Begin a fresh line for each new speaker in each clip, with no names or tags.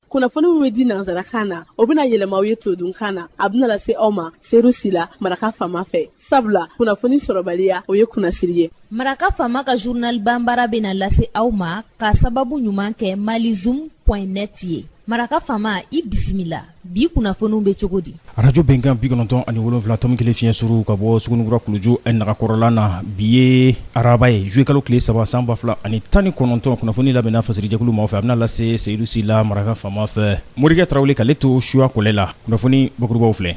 kunnafoni min bɛ di nansarakan na o bɛna yɛlɛma aw ye todunkan na a bɛna lase aw ma seru sila maraka faama fɛ sabula kunnafoni sɔrɔbaliya o ye kunnasiri ye maraka faama
ka journal banbara bɛna lase aw ma k'a sababu ɲuman kɛ malizoom point net ye maraka faama i bisimila bi kunnafoniw bɛ cogo di arajo bɛnkan bi
kɔnɔntɔn ani wolonwula tɔmi kelen fiɲɛ suru ka bɔ sugunikura kuluju nagakɔrɔla na bi ye araba ye zuluye kalo tile saba san ba fila ani tan ni kɔnɔntɔn kunnafoni labɛnna fasirijɛkulu ma fɛ a bɛna lase seyidu sila maraka faama fɛ morikɛ tarawele k'ale to suwa kɔlɛ la kunnafoni bakurubaw filɛ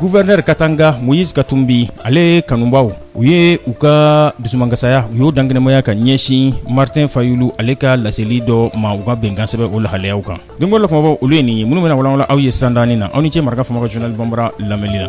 Gouverneur Katanga Moïse Katumbi ale kanubaw u ye u ka dusumankasaya u y'o dankɛnɛmaya ka ɲɛsin Martin Fayulu ale ka laseli dɔ ma u ka bɛnkansɛbɛn o lahalayaw kan don o la kumabaw olu ye nin ye minnu bɛna walawala aw ye sani dɔɔnin na aw ni cɛ maraka faama ka journal banbara lamɛnni na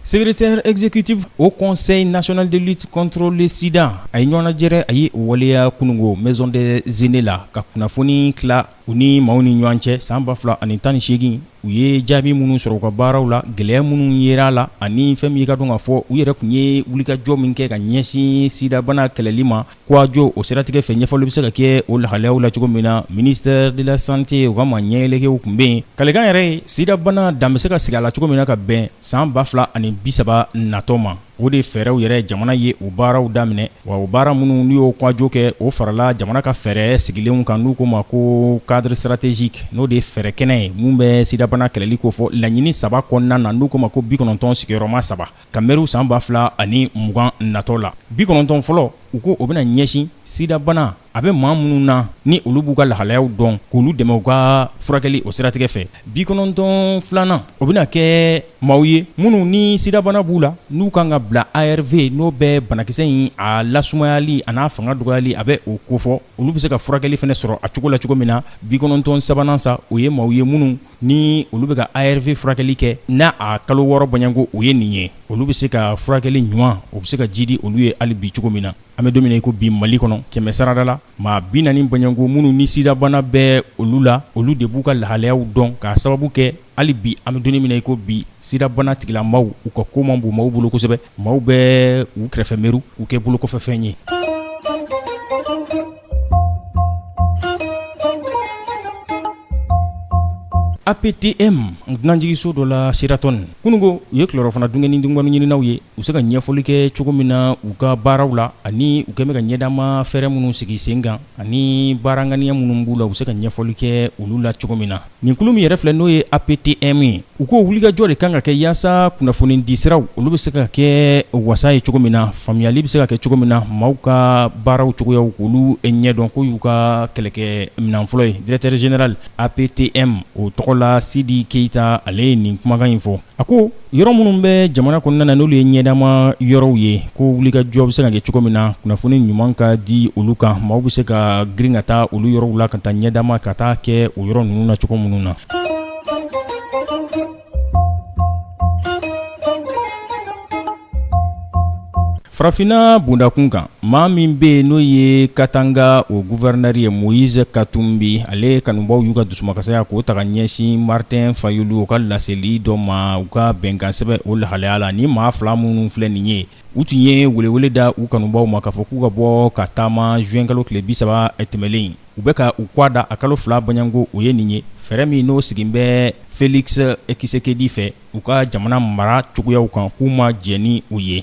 Secrétaire exécutif haut conseil national de lutte contre le sida a ye ɲɔgɔnnajɛrɛ a ye o waleya kunungo maison des aînés la ka kunnafoni tila u ni maaw ni ɲɔgɔn cɛ san ba fila ani tan ni seegin u ye jaabi minnu sɔrɔ u ka baaraw la gɛlɛya minnu yera a la ani fɛn min i k'a dɔn k'a fɔ u yɛrɛ tun ye wulikajɔ min kɛ ka ɲɛsin sidabana kɛlɛli ma Kowajo o siratigɛ fɛ ɲɛfɔli bɛ se ka kɛ o lahalayaw la cogo min na ministère de la santé u ka maa ɲɛelege tun bɛ yen kalikan yɛrɛ ye sidabana dan bɛ se ka sigi a la cogo min na ka bɛn san ba fila ani bisaba natɔ ma o de fɛɛrɛw yɛrɛ jamana ye o baaraw daminɛ wa o baara minnu n'u ye kowajo kɛ o farala jamana ka fɛɛrɛ sigilenw kan n'u k'o ma ko cadre stratégique n'o de fɛɛrɛ kɛnɛ ye min bɛ sidabana kɛlɛli ko fɔ laɲini saba kɔnɔna na n'u k'o ma ko bi kɔnɔntɔn sigiyɔrɔma saba ka mɛriw san ba fila ani mugan natɔ la bi kɔnɔntɔn fɔlɔ u ko o bɛna ɲɛsin sidabana a bɛ maa minnu na ni olu b'u ka lahalayaw dɔn k'olu dɛmɛ u ka furakɛli o siratigɛ fɛ bi kɔnɔntɔn filanan o bɛna kɛ maaw ye minnu ni sidabana b'u la n'u kan ka bila arv n'o bɛ banakisɛ in a lasumayali an'a fanga dɔgɔyali a bɛ o kofɔ olu bɛ se ka furakɛli fana sɔrɔ a cogo la cogo min na bi kɔnɔntɔn sabanan sa o ye maaw ye minnu ni olu bɛ ka arv furakɛli kɛ n' a kalo wɔɔrɔ bɔɲɔgɔnko o ye nin ye olu bɛ se ka furakɛli ɲuman o bɛ se ka jidi olu ye hali bi cogo min na an bɛ don min na i ko bi mali kɔnɔ kɛmɛ sarada la maa bi naani bɔɲɔgɔnko minnu ni sidabana bɛ olu la olu de b'u ka lahalayaw dɔn k'a sababu kɛ hali bi an bɛ don min na i ko bi sidabana tigilamaw u ka ko man bon maaw bolo kosɛbɛ maaw bɛ u kɛrɛfɛ mɛru k'u kɛ bolokofɛfɛn ye APTM dunanjiginso dɔ la Sheraton kunungo u ye kilerɔfana dun kɛ ni dungɛni ɲininaw ye u bɛ se ka ɲɛfɔli kɛ cogo min na u ka baaraw la ani u kɛlen bɛ ka ɲɛdaama fɛɛrɛ minnu sigi sen kan ani baara ŋaniya minnu b'u la u bɛ se ka ɲɛfɔli kɛ olu la cogo min na Nin kulu min yɛrɛ filɛ n'o ye APTM ye, u ko wulikajɔ de kan ka kɛ yaasa kunnafonidisiraw olu bɛ se ka kɛ wasa ye cogo min na, faamuyali bɛ se ka kɛ cogo min na, maaw ka baaraw cogoyaw k'olu ɲɛdɔn k'o y'u ka kɛlɛkɛminan fɔlɔ ye directeur général APTM o tɔgɔ la Sidi Keyita ale ye nin kumakan in fɔ. A ko yɔrɔ minnu bɛ jamana kɔnɔna na n'olu ye ɲɛdama yɔrɔw ye ko wulikajɔ bɛ se ka kɛ cogo min na kunnafoni ɲuman ka di olu kan maaw bɛ se ka girin ka taa olu yɔrɔw la ka taa ɲɛdama ka taa kɛ o yɔrɔ ninnu na cogo minnu na Farafinna bundakun kan maa min bɛ yen n'o ye Katanga o gouverneur ye Moïse Katumbi ale kanubaw y'u ka dusumakasaya k'o ta ka ɲɛsin Martin Fayulu o ka laseli dɔ ma u ka bɛnkansɛbɛn o lahalaya la ni maa fila minnu filɛ nin ye u tun ye welewele da u kanubaw ma k'a fɔ k'u ka bɔ ka taama juin kalo tile bi saba tɛmɛnlen in u bɛ ka u kɔ da a kalo fila bɔɲɔgɔnko o ye nin ye fɛɛrɛ min n'o sigilen bɛ Félix Tshisekedi fɛ u ka jamana mara cogoyaw kan k'u ma jɛn ni u ye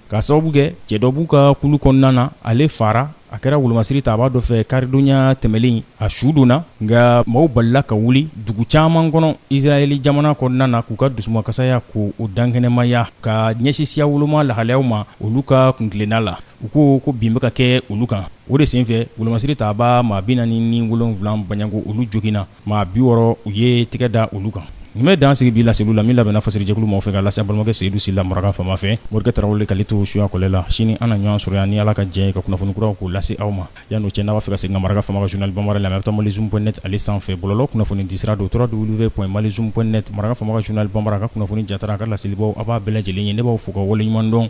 K'a sababu kɛ cɛ dɔ b'u ka kulu kɔnɔna na ale faara a kɛra wolomasiri tabaa dɔ fɛ karidonya tɛmɛnen in a su donna nka maaw balila ka wuli dugu caman kɔnɔ Israɛl jamana kɔnɔna na k'u ka dusumakasaya ko o dankɛnɛmaya ka ɲɛsin siya woloma lahalayaw ma olu ka kuntilenna la u ko ko bin bɛ ka kɛ olu kan o de senfɛ wolomasiri tabaa maa 47 baɲanko olu joginna Maa bi wɔɔrɔ u ye tɛgɛ da olu kan nin bɛ dan sigi bi laseli la min labɛnna fasiri jɛkulu maaw fɛ ka lase balimakɛ Seyidu Sila Maraka fama fɛ Morikɛ Tarawele k'ale to suya kɔlɛ la sini an na ɲɔgɔn sɔrɔ yan ni Ala ka jɛn ye ka kunnafonikuraw k'u lase aw ma yan n'o cɛ n'a b'a fɛ ka segin ka Maraka fama ka journal bambara lamɛn a bɛ taa malizoom point net ale sanfɛ bɔlɔlɔ kunnafonidisira don trois w point malizoom point net Maraka fama ka journal bambara ka kunnafoni jatara a ka laselibaw a b'a bɛɛ lajɛlen ye ne b'aw fo ka waleɲumandɔn